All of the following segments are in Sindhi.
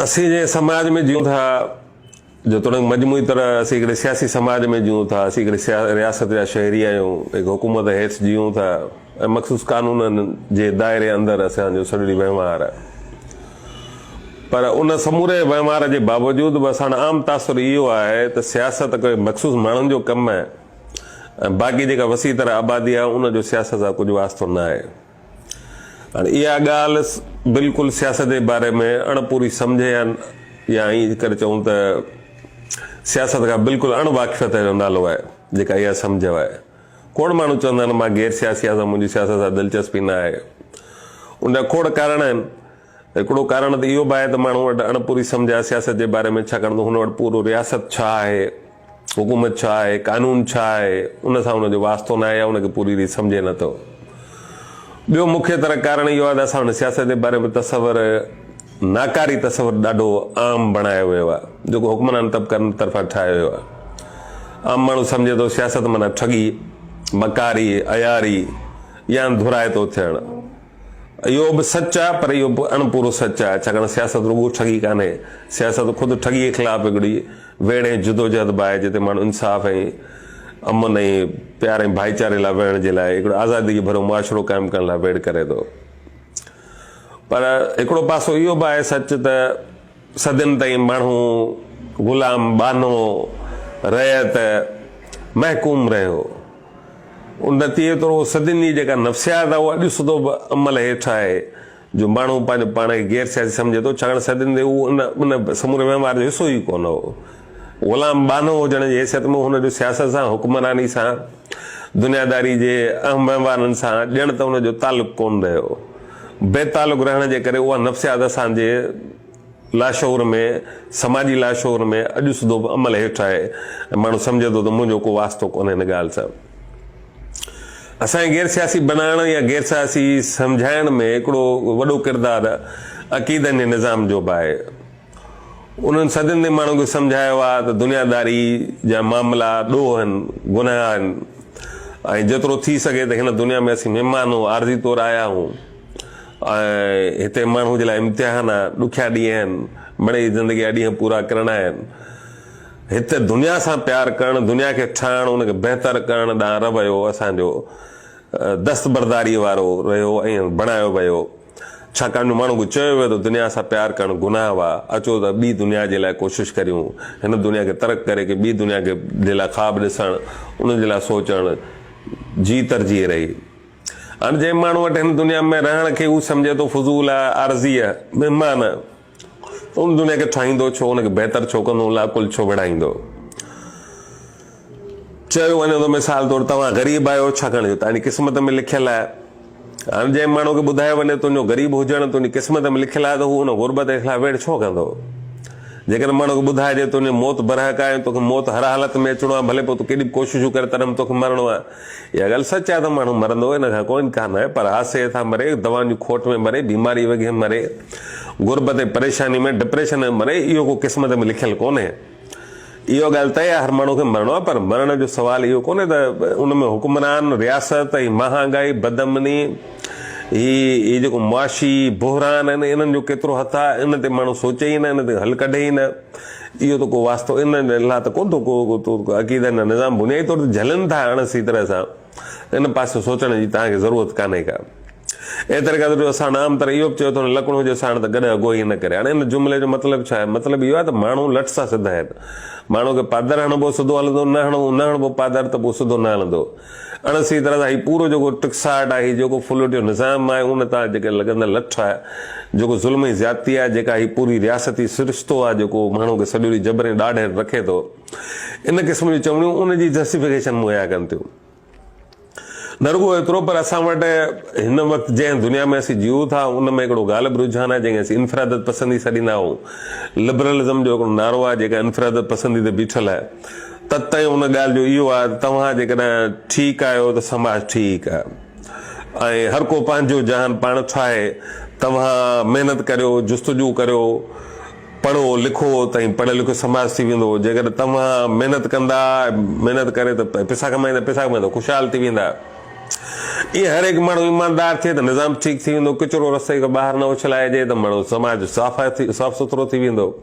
اسين جنهن سماج ۾ جيئون ٿا، جيتوڻيڪ مجموعي طرح اسين هڪڙي سياسي سماج ۾ جيئون ٿا، اسين هڪڙي رياست جا شهري آهيون، هڪ حڪومت هيٺ جيئون ٿا ۽ مخصوص قانونن جي دائري اندر اسان جو سڄڙي وهنوار آهي. پر ان سموري وهنوار جي باوجود به اسان عام تاثر اهو آهي ته سياست ڪوئي مخصوص ماڻهن جو ڪم آهي ۽ باقي جيڪا وسيع تر آبادي آهي ان جو سياست سان ڪجهه واسطو نه آهي. هاڻي اها ڳالهه بلڪل سياست جي باري ۾ اڻ پوري سمجهه يا يا ائين ڪري چئون ته سياست کان بلڪل اڻ واقفيت جو نالو آهي جيڪا اها سمجهه آهي. کوڙ ماڻهو چوندا آهن مان غير سياسي آهيان سو منهنجي سياست سان دلچسپي نه آهي. ان جا کوڙ ڪارڻ آهن. هڪڙو ڪارڻ ته اهو به آهي ته ماڻهن وٽ اڻپوري سمجهه آهي سياست جي باري ۾ ڇاڪاڻ ته هن وٽ پورو رياست ڇا آهي، حڪومت ڇا آهي، قانون ڇا آهي ان سان هن جو واسطو ناهي يا ان کي پوري ريت سمجهي نه ٿو. ٻيو مکيه تر ڪارڻ اهو آهي ته اسان وٽ سياست جي باري ۾ تصور ناڪاري تصور ڏاڍو عام بڻايو ويو آهي جيڪو حڪمران طبقن طرفان ٺاهيو ويو آهي. عام ماڻهو سمجهي ٿو سياست معنيٰ ٺڳي، مڪاري، عياري يا انڌورائتو ٿيڻ. اهو به سچ آهي پر اهو به اڻ پورو سچ آهي ڇاڪاڻ سياست رڳو ٺڳي ڪانهي، سياست خود ٺڳيء خلاف هڪڙي ويڙهه ۽ جدوجهد به آهي جتي ماڻهو انصاف ۽ امن ۽ پيار ۽ ڀائيچاري لاء وڙهڻ جي لاء هڪڙو آزاديء ڀريو معاشرو قائم ڪرڻ لاء ويڙهه ڪري ٿو پر هڪڙو پاسو اهو به آهي سچ ته صدين تائين ماڻهو غلام، ٻانهو، رعيت، محڪوم رهيو. ان نتيجي طور اهو صدين جي جيڪا نفسيات آهي اها اڄ سڌو به عمل هيٺ آهي جو ماڻهو پنهنجو پاڻ کي غير سياسي سمجهي ٿو ڇاڪاڻ صدين تائين اهو ان ان سموري وهنوار جو حصو ئي ڪونه هو. غلام، ٻانهو، هجڻ جي حيثيت ۾ هن جو سياست سان، حڪمراني سان، دنياداري جي اهم وهنوارن سان ڄڻ ته ان جو تعلق ڪونه رهيو. بي تعلق رهڻ جي ڪري اها نفسيات اسان جي لاشعور ۾، سماجي لاشعور ۾ اڄ سڌو به عمل هيٺ آهي ۽ ماڻهو سمجهي ٿو ته منهنجو ڪو واسطو ڪونهي ان ڳالهه سان. اسان کي غير سياسي بنائڻ يا غير سياسي سمجهائڻ ۾ هڪڙو وڏو ڪردار عقيدن جي نظام جو به آهي. انهن صدين تائين ماڻهن کي سمجهايو آهي ته دنياداري جا معاملا ڏوهه آهن، گناهه آهن ۽ جيترو ٿي سگهي ته هن دنيا ۾ اسين مهمان هون، عارضي طور آيا آهون ۽ هتي ماڻهوء جي لاء امتحان آهي، ڏکيا ڏينهن آهن، مڙئي هي زندگي جا ڏينهن پورا ڪرڻا آهن. هت دنيا سان پيار ڪرڻ، دنيا کي ٺاهڻ، ان کي بهتر ڪرڻ ڏانهن رويو اسان جو دستبرداريء وارو رهيو ۽ بڻايو ويو. ڇاڪاڻ جو ماڻهن کي چيو ويو ته دنيا سان پيار ڪرڻ گناهه هئا، اچو ته ٻي دنيا جي لاء ڪوشش ڪريون، هن دنيا کي ترڪ ڪري ڪي ٻي دنيا کي جي لاء خواب ڏسڻ، ان جي لاء سوچڻ جي ترجيح رهي. هاڻ جنهن ماڻهو وٽ هن دنيا ۾ رهڻ کي هو سمجهي ٿو فضول آهي، عارضي آهي، مهمان آهي، ان دنيا کي ٺاهيندو ڇو، ان کي بهتر ڇو ڪندو، ان لاء عقل ڇو ويڙهائيندو؟ چيو وڃي ٿو مثال طور توهان غريب آهيو ڇاڪاڻ جو تهانجي قسمت ۾ لکيل آهي. هاڻ جنهن ماڻهو کي ٻڌايو وڃي تنهنجو غريب هجڻ تنهنجي قسمت ۾ لکيل آهي ته هو ان غربت جي خلاف ويڙهه ڇو ڪندو؟ جيڪڏهن ماڻهو کي ٻڌائجي تنهنجي موت برحق آهي ۽ توکي موت هر حالت ۾ اچڻو آهي ڀلي پوء تون ڪيڏي به ڪوششون ڪر تڏهن به توکي مرڻو آهي. اها ڳالهه سچ آهي ته ماڻهو مرندو، ان کان ڪو انڪار ناهي، پر حادثي هيٺان مري، دوائن جي کوٽ ۾ مري، بيماري وگهي مري، غربت ۽ پريشاني ۾، ڊپريشن ۾ مري، اهو ڪو قسمت ۾ لکيل ڪونهي. اها ڳالهه طئي آهي هر ماڻهو کي مرڻو آهي، پر مرڻ جو سوال اهو ڪونهي ته ان ۾ حڪمران، رياست، هي مهانگائي، بدامني، هي هي جيڪو معاشي بحران آهن، انهن جو ڪيترو هٿ آهي، ان تي ماڻهو سوچي ئي نه، ان تي حل ڪڍي ئي نه. اهو ته ڪو واسطو ان ۽ ان لاء ته ڪونه ٿو ڪو عقيدا ۽ نظام بنيادي طور تي جهلن ٿا اڻ سهي طرح سان ان پاسي سوچڻ جي توهان کي ضرورت ڪانهي ڪا. اي طريقه ته ڏيو ساڻ عام طرح اهو به چيو ٿو نه لڪڻو هجي ساڻ ته گڏهه اگهوئي نه ڪري هاڻ ان جملي جو مطلب ڇا آهي مطلب اهو آهي ته ماڻهو لٽ سان سڌ آهن ماڻهو کي پادر هڻبو سڌو هلندو نه هڻبو نه هڻبو پادر ته پوء سڌو نه هلندو اڻ سھي طرح سان ھي پورو جيڪو ٽڪساٽ آھي، ھي جيڪو فلوٽيو نظام آھي، ان تان جيڪي لڳندڙ لٺ آھي، جيڪو ظلم ۽ زيادتي آھي، جيڪا ھي پوري رياستي سرشتو آھي، جيڪو ماڻھو کي سڄو ڏينھن جبر ۽ ڏاڍ ھيٺ رکي ٿو، ان قسم جون چوڻيون ان جي جسٽيفڪيشن مھيا ڪن ٿيون. نه رڳو ايترو پر اسان وٽ ھن وقت جنھن دنيا ۾ اسين جيئون ٿا، ان ۾ ھڪڙو غالب رجحان آھي، جنھن کي اسين انفرادت پسندي سڏيندا آھون. لبرلزم جو ھڪڙو نعرو آھي، جيڪا انفرادت پسندي تي بيٺل آھي. تت تائين ان ڳالهه جو اهو آهي ته توهان جيڪڏهن ٺيڪ آهيو ته سماج ٺيڪ آهي ۽ هر ڪو پنهنجو جهان پاڻ ٺاهي. توهان محنت ڪريو، جستجو ڪريو، پڙهو لکو ته هي پڙهيو لکيو سماج ٿي ويندو. جيڪڏهن توهان محنت ڪندا، محنت ڪري ته پيسا ڪمائيندا، پيسا ڪمائي ته خوشحال ٿي ويندا. ائين هر هڪ ماڻهو ايماندار ٿئي ته نظام ٺيڪ ٿي ويندو. ڪچرو رستي کان ٻاهر نه اڇلائجي ته ماڻهو سماج صاف سٿرو ٿي ويندو.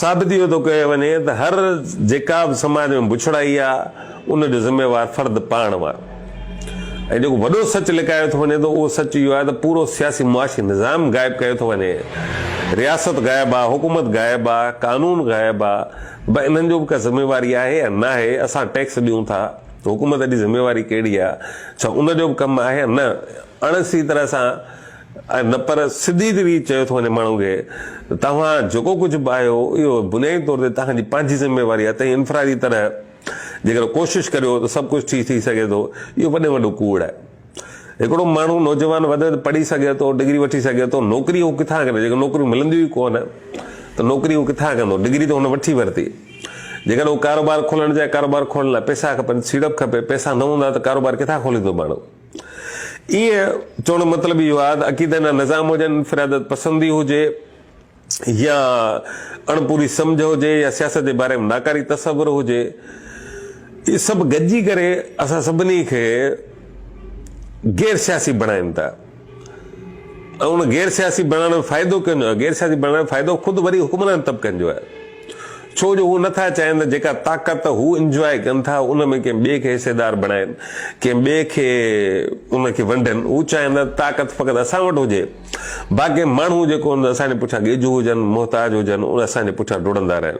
ثابت اهو ٿو ڪيو وڃي ته هر جيڪا به سماج ۾ بڇڙائي آهي ان جو ذميوار فرد پاڻ آهي ۽ جيڪو وڏو سچ لڪايو ٿو وڃي ته اهو سچ اهو آهي ته پورو سياسي معاشي نظام غائب ڪيو ٿو وڃي رياست غائب آهي حڪومت غائب آهي قانون غائب آهي به انهن جو به ڪا ذميواري آهي يا ناهي اسان ٽيڪس ڏيون ٿا حڪومت جي ذميواري ڪهڙي آهي ڇا ان جو به ڪم آهي يا نه اڻ سهي طرح سان نه پر سڌي روي چيو ٿو وڃي ماڻهن کي ته توهان جيڪو ڪجهه به آهيو اهو بنيادي طور تي توهان جي پنهنجي ذميواري آهي تنهن انفرادي طرح جيڪڏهن ڪوشش ڪريو ته سڀ ڪجهه ٺيڪ ٿي سگهي ٿو اهو وڏي ۾ وڏو ڪوڙ آهي هڪڙو ماڻهو نوجوان وڌ ۾ وڌ پڙهي سگهي ٿو ڊگري وٺي سگهي ٿو نوڪري هو ڪٿان ڪندو جيڪڏهن نوڪريون ملنديون ئي ڪونه ته نوڪري هو ڪٿان ڪندو ڊگري ته هن وٺي ورتي جيڪڏهن هو ڪاروبار کولڻ چاهي ڪاروبار کولڻ لاء پئسا کپن سيڙپ کپي پئسا نه هوندا ته ڪاروبار ڪٿان کوليندو ماڻهو ايئن چوڻ جو مطلب اهو آهي ته عقيدن جا نظام هجن، انفراديت پسندي هجي يا اڻ پوري سمجهه هجي يا سياست جي باري ۾ ناڪاري تصور هجي، اهي سڀ گڏجي ڪري اسان سڀني کي غير سياسي بڻائين ٿا ۽ ان غير سياسي بڻائڻ جو فائدو ڪنهن جو آهي؟ غير سياسي بڻائڻ جو فائدو خود وري حڪمران طبقن جو آهي. ڇو جو هو نٿا چاهين ته جيڪا طاقت هو انجواء ڪن ٿا ان ۾ ڪنهن ٻئي کي حصيدار بڻائين، ڪنهن ٻئي کي ان کي ونڊين، هو چاهين ٿا ته طاقت فقط اسان وٽ هجي، باقي ماڻهو جيڪو هن اسان جي پٺيان ڳيجهو هجن، محتاج هجن، اهي اسان جي پٺيان ڊوڙندا رهن.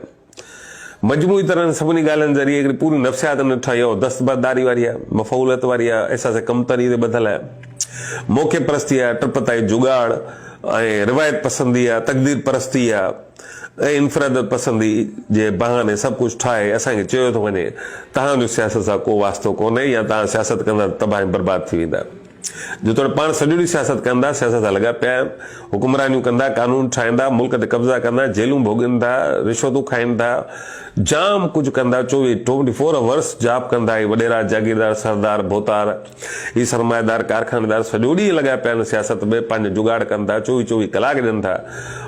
مجموعي طرح هن سڀني ڳالهين ذريعي هڪڙي پوري نفسيات ان ٺاهي اها دستبرداري واري آهي، مفعوليت واري آهي، احساس ڪمتري تي ٻڌل آهي، موقعي پرستي آهي، ٽپتائي جگاڙ ۽ روايت پسندي آهي، تقدير پرستي آهي. ۽ انفراديت پسندي جي بهاني سڀ ڪجهه ٺاهي اسان کي چيو ٿو وڃي توهان جو سياست سان ڪو واسطو ڪونهي يا توهان سياست ڪندا ته تباهه ۽ برباد ٿي ويندا جيتوڻيڪ پاڻ سڄو ڏينهن سياست ڪندا سياست سان لڳا پيا آهن حڪمرانيون ڪندا قانون ٺاهيندا ملڪ تي قبضا ڪندا جيلون ڀوڳين ٿا رشوتون کائين ٿا جام ڪجهه ڪندا چوويهه ٽوئنٽي فور اورس جاب ڪندا هي وڏيرا جاگيردار سردار ڀوتار هي سرمائيدار ڪارخانيدار سڄو ڏينهن لڳا پيا آهن سياست ۾ پنهنجو جگاڙ ڪن ٿا چوويھ چوويھ ڪلاڪ ڏين ٿا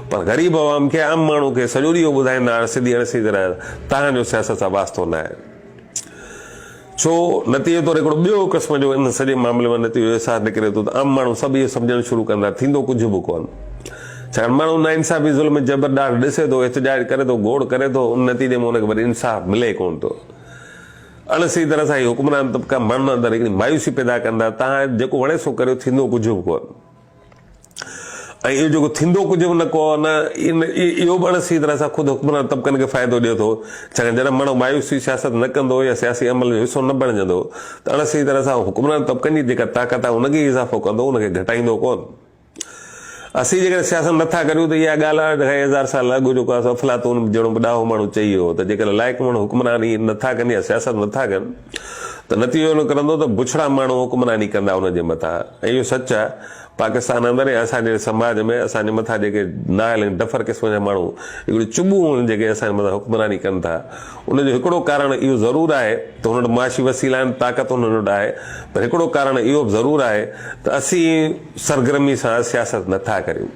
پر غريب عوام کي عام ماڻهو کي سڄو ڏينهن اهو ٻڌائيندا آهن سڌي اڻ سڌي طرح توهان جو سياست سان واسطو نه آهي ڇو نتيجي طور هڪڙو ٻيو قسم جو ان سڄي معاملي مان نتيجو احساس نڪري ٿو ته عام ماڻهو سڀ اهو سمجهڻ شروع ڪندا ٿيندو ڪجهه به ڪون ڇاڪاڻ ماڻهو نا انصافي ظلم جبر ڏاڍ ڏسي ٿو احتجاج ڪري ٿو گوڙ ڪري ٿو ان نتيجي ۾ ان کي وري انصاف ملي ڪون ٿو اڻ سھي طرح سان ھي حڪمران طبقا ماڻھن اندر ھڪڙي مايوسي پيدا ڪن ٿا، تان جيڪو وڻي سو ڪريو ٿيندو ڪجھ به ڪو نه ۽ اھو جيڪو ٿيندو ڪجھ به نه ڪو نه اھو به اڻ سھي طرح سان خود حڪمران طبقن کي فائدو ڏئي ٿو ڇاڪاڻ جڏھن ماڻھو مايوسي سياست نه ڪندو يا سياسي عمل جو حصو نه بڻجندو ته اڻ سھي طرح سان ھو حڪمران طبقن جي جيڪا طاقت آھي ان کي ئي اضافو ڪندو ان کي گھٽائيندو ڪو نه. اسين جيڪڏهن سياست نه ٿا ڪريون ته اها ڳالهه آهي ته خير هزار سال اڳ جو ڪو افلاطون جهڙو به ڏاهو ماڻهو چئي ويو هو ته جيڪڏهن لائق ماڻهو حڪمراني نه ٿا ڪن يا سياست نه ٿا ڪن ته نتيجو اهو نڪرندو ته بڇڙا ماڻهو حڪمراني ڪندا انهن جي مٿان ۽ اهو سچ آهي پاڪستان اندر ۽ اسان جهڙي سماج ۾ اسان جي مٿان جيڪي نااهل ۽ ڊڦر قسم جا ماڻهو هڪڙيون چٻون هون جيڪي اسان جي مٿان حڪمراني ڪن ٿا ان جو هڪڙو ڪارڻ اهو ضرور آهي ته هن وٽ معاشي وسيلا آهن، طاقت هنن وٽ آهي، پر هڪڙو ڪارڻ اهو به ضرور آهي ته اسين سرگرمي سان سياست نه ٿا ڪريون.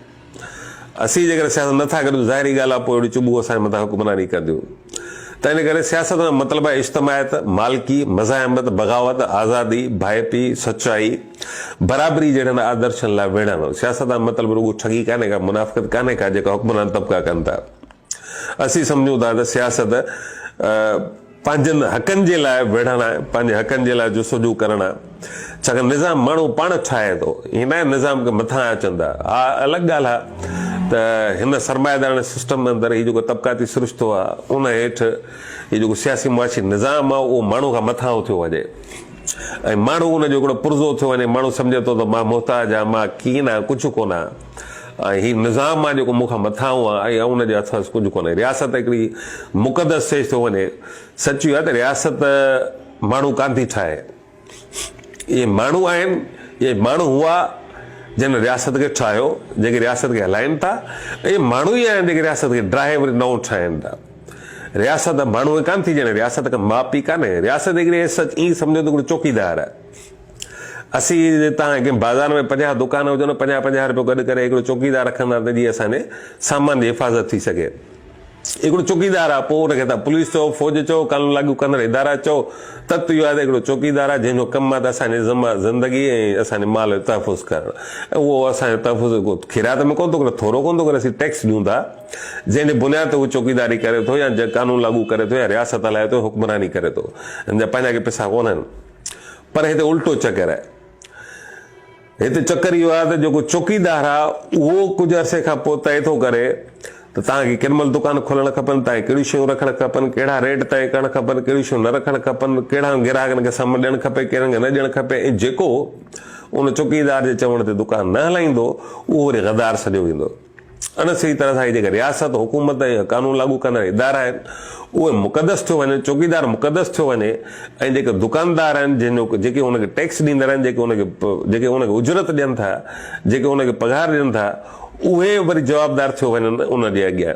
اسين جيڪڏهن سياست نه ٿا ڪريون ته ظاهري ڳالهه آهي پوء اهڙيون چٻون اسان جي مٿان حڪمراني ڪنديون. تنهن ڪري سياست مان مطلب آهي اجتماعيت، مالڪي، مزاحمت، بغاوت، آزادي، ڀائپي، سچائي، برابري جهڙن آدرشن لاء ويڙهڻ. سياست مان مطلب رڳو ٺڳي ڪانهي ڪا، منافقت ڪانهي ڪا جيڪا حڪمران طبقا ڪن ٿا. اسين سمجهون ٿا ته سياست پنهنجن حقن جي لاء وڙهڻ آهي، پنهنجي حقن جي لاء جستجو ڪرڻ آهي، ڇاڪاڻ نظام ماڻهو پاڻ ٺاهي ٿو، هي ناهي نظام کي مٿان اچن ٿا، ها الڳ ڳالهه آهي ته هن سرمائيداراڻي سسٽم اندر هي جيڪو طبقاتي سرشتو آهي ان هيٺ هي جيڪو سياسي معاشي نظام آهي اهو ماڻهو کان مٿان اٿيو وڃي ۽ ماڻهو ان جو هڪڙو پرزو ٿيو وڃي، ماڻهو سمجهي ٿو ته مان محتاج آهيان، مان ڪين آهيان، ڪجهه ڪونه آهيان. ۽ هي نظام آهي جيڪو مون کان مٿان هو ۽ آئون ان جي هٿس ڪجهه ڪونهي. رياست هڪڙي مقدس سيج ٿو وڃي. سچ اهو آهي ته رياست ماڻهو ڪانه ٿي ٺاهي. اهي ماڻهو آهن يا ماڻهو هئا جن رياست کي ٺاهيو، جيڪي رياست کي هلائين ٿا ۽ اهي ماڻهو ئي آهن جيڪي رياست کي ڊاهي وري نئون ٺاهين ٿا. رياست ماڻهو ڪانه ٿي ڄڻي رياست کي ماء پيء ڪانهي. رياست هڪڙي ايس سچ ائين سمجهو ته هڪڙو چوڪيدار آهي. اسين جي تان ڪنهن بازار ۾ پنجاهه دڪان هجن ۽ پنجاهه پنجاهه روپيو گڏ ڪري هڪڙو چوڪيدار رکندا ته جيئن اسان جي سامان جي حفاظت ٿي سگهي. هڪڙو چوڪيدار آ پوء ان کي تان پوليس چئو، فوج چئو، قانون لاڳو ڪندڙ ادارا چئو، تت اهو آ ته هڪڙو چوڪيدار آ جنهن جو ڪم آ ته اسان جي ذمه آ زندگي ۽ اسان جي مال جو تحفظ ڪرڻ ۽ اهو اسان جو تحفظ ڪو خيرات ۾ ڪونه ٿو ڪري، ٿورو ڪونه ٿو ڪري، اسين ٽيڪس ڏيون ٿا جنهن جي بنياد تي هو چوڪيداري ڪري ٿو يا قانون لاڳو ڪري ٿو يا رياست هلائي ٿو، حڪمراني ڪري ٿو، هن جا پنهنجا ڪي پئسا ڪونهن. پر هتي الٽو چڪر آهي. هتي چڪر اهو آهي ته جيڪو چوڪيدار آهي اهو ڪجهه عرصي کان پوء طئي ٿو ڪري ته توهان کي ڪيڏي مهل دڪان کولڻ کپن، توهان کي ڪهڙيون شيون رکڻ کپن، ڪهڙا ريٽ طئي ڪرڻ کپن، ڪهڙيون شيون نه رکڻ کپن، ڪهڙا گراهڪن کي سهم ڏيڻ کپي، ڪهڙن کي نه ڏيڻ کپي ۽ جيڪو ان چوڪيدار جي چوڻ تي دڪان نه هلائيندو اهو وري غدار سڏيو ويندو. ان سڄي طرح سان هي جيڪي رياست، حڪومت ۽ قانون لاڳو ڪندڙ ادارا آهن، اهي مقدس ٿيو وڃن، چوڪيدار مقدس ٿيو وڃي ۽ جيڪي دڪاندار آهن، جن جو جيڪي ان کي ٽيڪس ڏيندڙ آهن، جيڪي ان کي جيڪي ان کي اجرت ڏين ٿا، جيڪي ان کي پگهار ڏين ٿا، اهي وري جوابدار ٿيو وڃن ان جي اڳيان.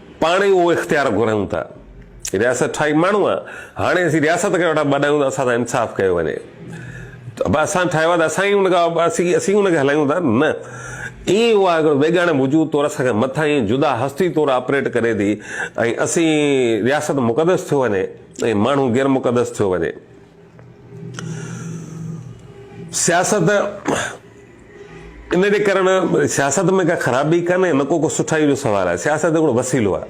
پاڻ ئي اهو اختيار گهريون ته رياست ٺاهي ماڻهو آ هاڻي اسين رياست کي ويٺا ٻڏايون ته اسان سان انصاف ڪيو وڃي ته به اسان ٺاهيو آ ته اسان ئي ان کان اسين اسين ان کي هلايون ٿا نه ايئن ئي اها هڪڙو بيگاڻي وجود طور اسان کان مٿان ائين جدا هستي طور آپريٽ ڪري ٿي ۽ اسين رياست مقدس ٿيو وڃي ۽ ماڻهو غير مقدس ٿيو وڃي سياست ان جي ڪرڻ سياست ۾ ڪا خرابي ڪانهي نه ڪو ڪو سٺائيء جو سوال آهي. سياست هڪڙو وسيلو آهي.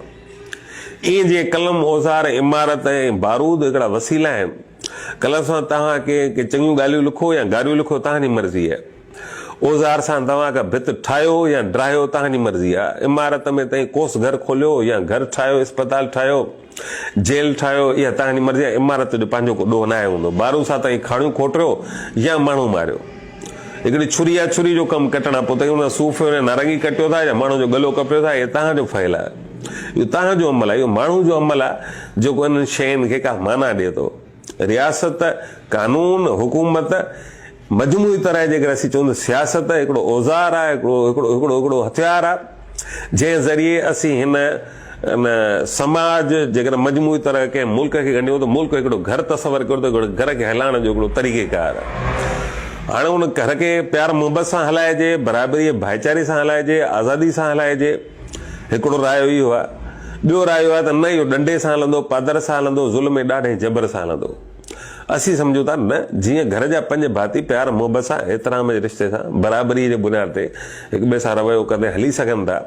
ائين جيئن قلم، اوزار، عمارت ۽ بارود هڪڙا وسيلا آهن. قلم سان توهان ڪنهن کي چڱيون ڳالهيون لکو يا گاريون لکو توهان جي مرضي آهي. اوزار سان توهان ڪا ڀت ٺاهيو يا ڊاهيو توهان جي مرضي آهي. عمارت ۾ تهين قوس گهر کوليو يا گهر ٺاهيو، اسپتال ٺاهيو. جيل ٺاهيو يا تنهن جي مرضي يا عمارت جو پنهنجو ڪو ڏوهه ناهي هوندو. بارون سان تنهن کاڻيون کوٽريو يا ماڻهو ماريو. هڪڙي ڇري يا ڇري جو ڪم ڪٽڻ کان پوء تنهن کي صوفيو يا نارنگي ڪٽيو ٿا يا ماڻهو جو ڳلو ڪپيو ٿا اهي تنهن جو فعل آهي. اهو تنهن جو عمل آهي. اهو ماڻهو جو عمل آهي جيڪو انهن شين کي ڪا معنيٰ ڏئي ٿو. رياست، قانون، حڪومت، مجموعي طرح جيڪڏهن اسين چئون ته سياست هڪڙو اوزار آهي، هڪڙو هڪڙو هٿيار آهي، جنهن ذريعي اسين هن ان سماج جيڪڏهن مجموعي طرح ڪنهن ملڪ کي ڳنڍيون ته ملڪ هڪڙو گهر تصور ڪيو ته گهر کي هلائڻ جو هڪڙو طريقه ڪار آهي. هاڻي ان گهر کي پيار محبت سان هلائجي، برابريء ڀائيچاري سان هلائجي، آزادي سان هلائجي، هڪڙو رايو اهو آهي. ٻيو رايو آهي ته نه اهو ڏنڊي سان هلندو، پادر سان هلندو، ظلم ۽ ڏاڍ ۽ جبر سان هلندو. اسين سمجهون ٿا نه جيئن گهر جا پنج ڀاتي پيار محبت سان احترام جي رشتي سان برابري جي بنياد تي هڪ ٻئي سان رويو ڪندي هلي سگهن ٿا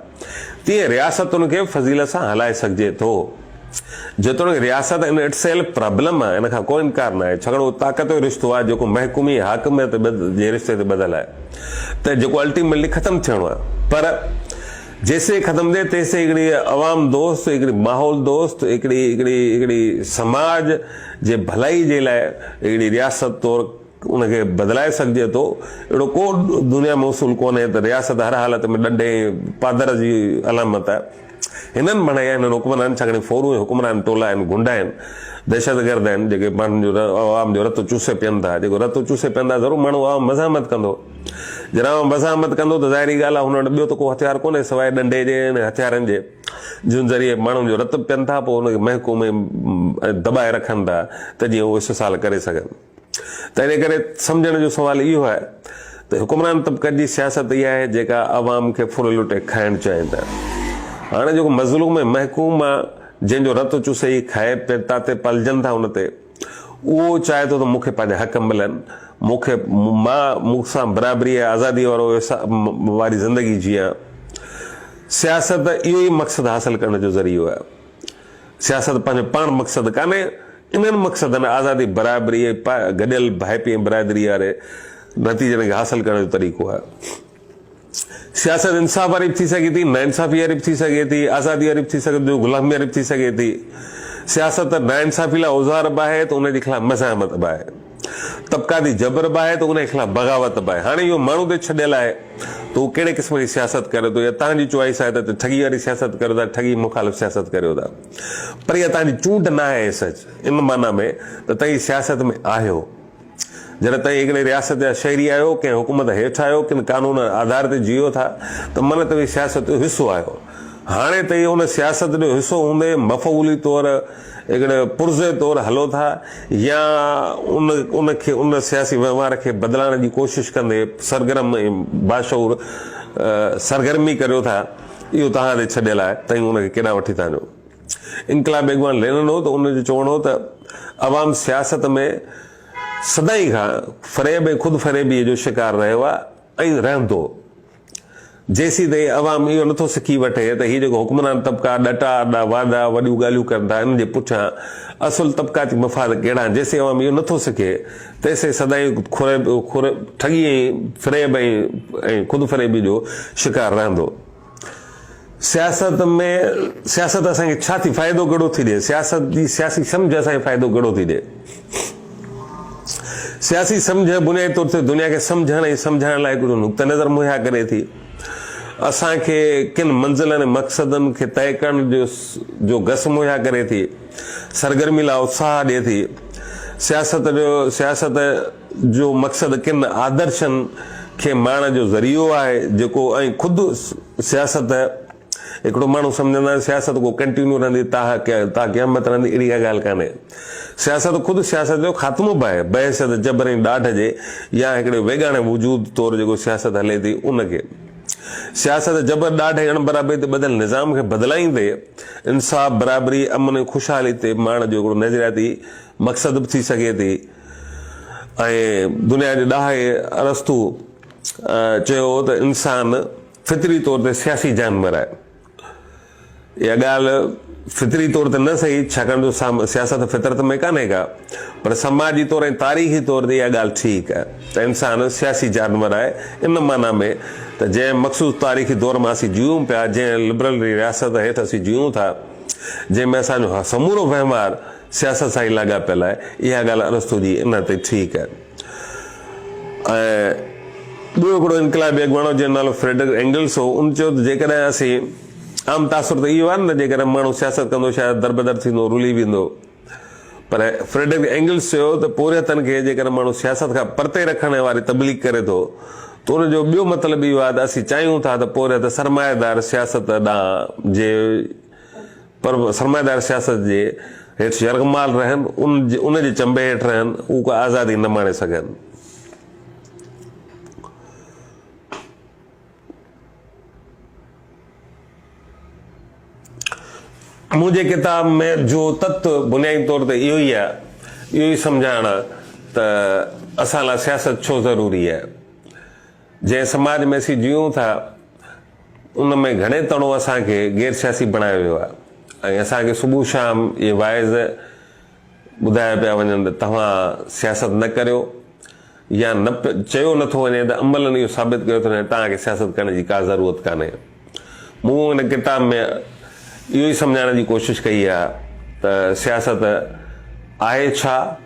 تيئن رياستن کي فضيلت سان هلائي سگهجي ٿو جيتوڻيڪ رياست ان اٽ سيلف پرابلم آهي ان کان ڪو انڪار ناهي ڇاڪاڻ اهو طاقت جو رشتو آهي جيڪو محڪومي حاڪميت جي رشتي تي ٻڌل آهي ته جيڪو الٽيميٽلي ختم ٿيڻو آهي پر جيستائين ختم ٿئي تيستائين هڪڙي عوام دوست هڪڙي ماحول دوست هڪڙي هڪڙي هڪڙي سماج جي ڀلائي جي لاء هڪڙي رياست طور ان کي بدلائي سگهجي ٿو. اهڙو ڪو دنيا ۾ اصول ڪونهي ته رياست هر حالت ۾ ڏنڊ ۽ پادر جي علامت آهي. هنن بڻايا هنن حڪمران ڇاڪاڻ ڦورون ۽ حڪمران ٽولا آهن، غنڊا آهن، دهشتگرد آهن جيڪي ماڻهن جو عوام جو رت چوسي پين ٿا. جيڪو رت چوسي پين ٿا ضرور ماڻهو عوام مزاحمت ڪندو. جڏهن عوام مزاحمت ڪندو ته ظاهري ڳالهه آهي هن وٽ ٻيو ته ڪو هٿيار ڪونهي سواء ڏنڊي جي ۽ هٿيارن جي. جن ذريعي ماڻهن جو رت پين ٿا پوء ان کي محڪوم ۽ دٻائي رکن ٿا ته جيئن هو استحصال ڪري سگهن ته ان ڪري سمجهڻ جو سوال اهو آهي ته حڪمران طبقن جي سياست اها آهي جيڪا عوام کي ڦر لٽي کائڻ چاهين ٿا هاڻي جيڪو مظلوم ۽ محڪوم جنهن جو رت چوسي هي کائي پير تاتي پلجن ٿا ان تي اهو چاهي ٿو ته مون کي پنهنجا حق ملن، مون کي مان ملڪ سان برابري ۽ آزادي وارو واري زندگي جيان. سياست اهو ئي مقصد حاصل ڪرڻ جو ذريعو آهي. سياست پنهنجو پاڻ مقصد ڪانهي، انهن مقصدن آزادي، برابري، گڏيل ڀائپي ۽ برادري واري نتيجن کي حاصل ڪرڻ جو طريقو آهي. سياست انصاف واري به ٿي سگهي ٿي، ناانصافي واري به ٿي سگهي ٿي، آزادي واري به ٿي سگهي ٿي، غلامي واري به ٿي سگهي ٿي. سياست ناانصافي لاء اوزار به آهي ته ان جي خلاف مزاحمت به آهي. طبقاتي جبر به آهي ته ان جي خلاف بغاوت به آهي. هاڻي اهو ماڻهو تي ڇڏيل آهي ته هو ڪهڙي قسم جي سياست ڪري ٿو يا توهان جي چوائيس آهي ته ٺڳي واري سياست ڪريو ٿا، ٺڳي مخالف سياست ڪريو ٿا. پر اها توهان جي چونڊ نه آهي سچ ان معنيٰ ۾ ته توهين سياست ۾ آهيو. جڏهن توهين هڪڙي رياست جا شهري آهيو، ڪنهن حڪومت هيٺ آهيو، ڪن قانون جي آڌار تي جيئو ٿا ته من توهين سياست جو حصو آهيو. هاڻي توهين ان سياست جو حصو هوندي مفعولي طور هڪڙي پرزي طور هلو ٿا يا ان کي ان سياسي وهنوار کي بدلائڻ جي ڪوشش ڪندي سرگرم ۽ باشعور سرگرمي ڪريو ٿا اهو توهان تي ڇڏيل آهي توهين ان کي ڪيڏانهن وٺي ٿا وڃو. انقلابي اڳواڻ لينن هو ته ان جو چوڻ هو ته عوام سياست ۾ سدائين کان فريب ۽ خود فريبيء جو شڪار رهيو آهي ۽ رهندو. جيسين تائين عوام اهو نٿو سکي وٺي ته هي جيڪو حڪمران طبقا ڏٽا اڏا واعدا وڏيون ڳالهيون ڪن ٿا انهن جي پٺيان اصل طبقاتي مفاد ڪهڙا آهن جيسين عوام اهو نٿو سکي تيسين سدائين ٺڳي ۽ فريب ۽ خود فريبيء جو شڪار رهندو. سياست ۾ سياست اسان کي ڇا ٿي فائدو ڪهڙو ٿي ڏي؟ سياست جي سياسي سمجهه اسان کي فائدو ڪهڙو ٿي ڏي؟ سياسي سمجهه بنيادي طور تي دنيا کي سمجهڻ ۽ سمجهائڻ لاء ڪجهه نقطه نظر مهيا ڪري ٿي. اسان کي ڪن منزلن ۽ مقصدن کي طئي ڪرڻ جو گس مهيا ڪري ٿي. سرگرمي لاء اتساهه ڏي ٿي. سياست جو سياست جو مقصد ڪن آدرشن کي ماڻڻ جو ذريعو آهي جيڪو ۽ خود سياست هڪڙو ماڻهو سمجهندا آهن سياست ڪو ڪنٽينيو رهندي تاڪ قيامت رهندي اهڙي ڪا ڳالهه ڪانهي سياست خود سياست جو خاتمو به آهي بحيثيت جبر ۽ ڏاڍ جي يا هڪڙي ويڳاڻي وجود طور جيڪو سياست هلي ٿي ان کي سياست جبر ڏاڍ ۽ اڻبرابري تي ٻڌل نظام کي بدلائيندي انصاف برابري امن ۽ خوشحالي تي ماڻڻ جو هڪڙو نظرياتي مقصد به ٿي سگهي ٿي ۽ دنيا جي ڏاهي ارسطو چيو هو ته انسان فطري طور تي سياسي جانور آهي. اها ڳالهه فطري طور تي نه سهي ڇاڪاڻ جو سياست فطرت ۾ ڪانهي ڪا پر سماجي طور ۽ تاريخي طور تي اها ڳالهه ٺيڪ آهي ته انسان سياسي جانور آهي ان معنيٰ ۾ ته جنهن مخصوص تاريخي دور مان اسين جيئون پيا جنهن لبرل ري رياست هيٺ اسين جيئون ٿا جنهن ۾ اسان جو سمورو وهنوار سياست سان ئي لاڳاپيل آهي، اها ڳالهه ارسطو جي ان تي ٺيڪ آهي. ۽ ٻيو هڪڙو انقلابي اڳواڻ هو، جنهن جو نالو فريڊرڪ اينگلس هو، ان چيو ته جيڪڏهن اسين، عام تاثر ته اهو آهي نه، جيڪڏهن ماڻهو سياست ڪندو شايد دربدر ٿيندو، رلي ويندو. پر فريڊرڪ اينگلس چيو ته پورهيتن کي جيڪڏهن ماڻهو سياست کان پرتي رکڻ واري تبليغ ڪري ٿو ته ان جو ٻيو مطلب اهو آهي ته اسين چاهيون ٿا ته پورهيت سرمائيدار سياست ڏانهن جي پر سرمائيدار سياست جي هيٺ يرغمال رهن، ان جي چنبي هيٺ رهن، هو ڪا آزادي نه ماڻي سگهن. منهنجي ڪتاب ۾ جو تت بنيادي طور تي اهو ئي آهي، اهو ئي سمجهائڻ آهي ته اسان لاء سياست ڇو ضروري آهي. جنهن سماج ۾ اسين جيئون ٿا، ان ۾ گهڻي تڻو اسان کي غير سياسي بڻايو ويو آهي ۽ اسان کي صبح شام اهي واعظ ٻڌايا پيا وڃن ته توهان سياست نه ڪريو يا نه چيو نه ٿو وڃي ته عملن اهو ثابت ڪيو ٿو وڃي ته توهان کي سياست ڪرڻ جي ڪا ضرورت ڪانهي. مون هن ڪتاب ۾ اهو ئي سمجهائڻ جي ڪوشش ڪئي آهي ته سياست آهي ڇا؟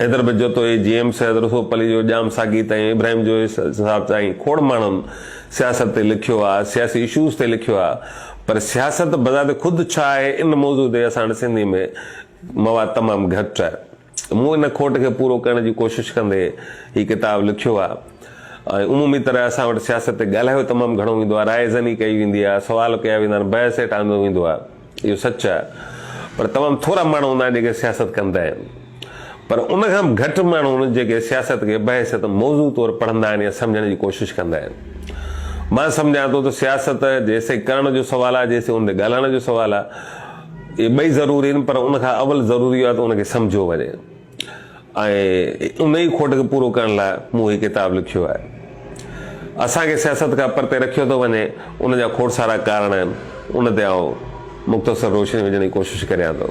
حيدر به جوتو اي جي ايم سيد رسوپ علي جو ڄام ساقي تائين ابراهيم جويي صاحب تائين کوڙ ماڻهن سياست تي لکيو آ سياسي اشوز تي لکيو آ پر سياست بذات خود ڇا آهي ان موضوع تي اسان وٽ سنڌي ۾ مواد تمام گهٽ آ مون ان کوٽ کي پورو ڪرڻ جي ڪوشش ڪندي هي ڪتاب لکيو آ ۽ عمومي طرح اسان وٽ سياست تي ڳالهايو تمام گهڻو ويندو آ راء زني ڪئي ويندي آ سوال ڪيا ويندا آهن بحث هيٺ آندو ويندو آ. اهو سچ آهي پر تمام ٿورا ماڻهو هوندا آهن جيڪي سياست ڪندا آهن پر ان کان به گهٽ ماڻهو هوندا آهن جيڪي سياست کي بحيثيت موضوع طور پڙهندا آهن يا سمجهڻ جي ڪوشش ڪندا آهن مان سمجهان ٿو ته سياست جيسين ڪرڻ جو سوال آهي جيسين ان تي ڳالهائڻ جو سوال آهي اهي ٻئي ضروري آهن پر ان کان اول ضروري اهو آهي ته ان کي سمجهيو وڃي. ۽ ان ئي کوٽ کي پورو ڪرڻ لاء مون هي ڪتاب لکيو آهي. اسان کي سياست کان پرتي رکيو ٿو وڃي، ان جا کوڙ سارا ڪارڻ آهن، ان تي آئون مختصر روشني وجهڻ جي ڪوشش ڪريان ٿو.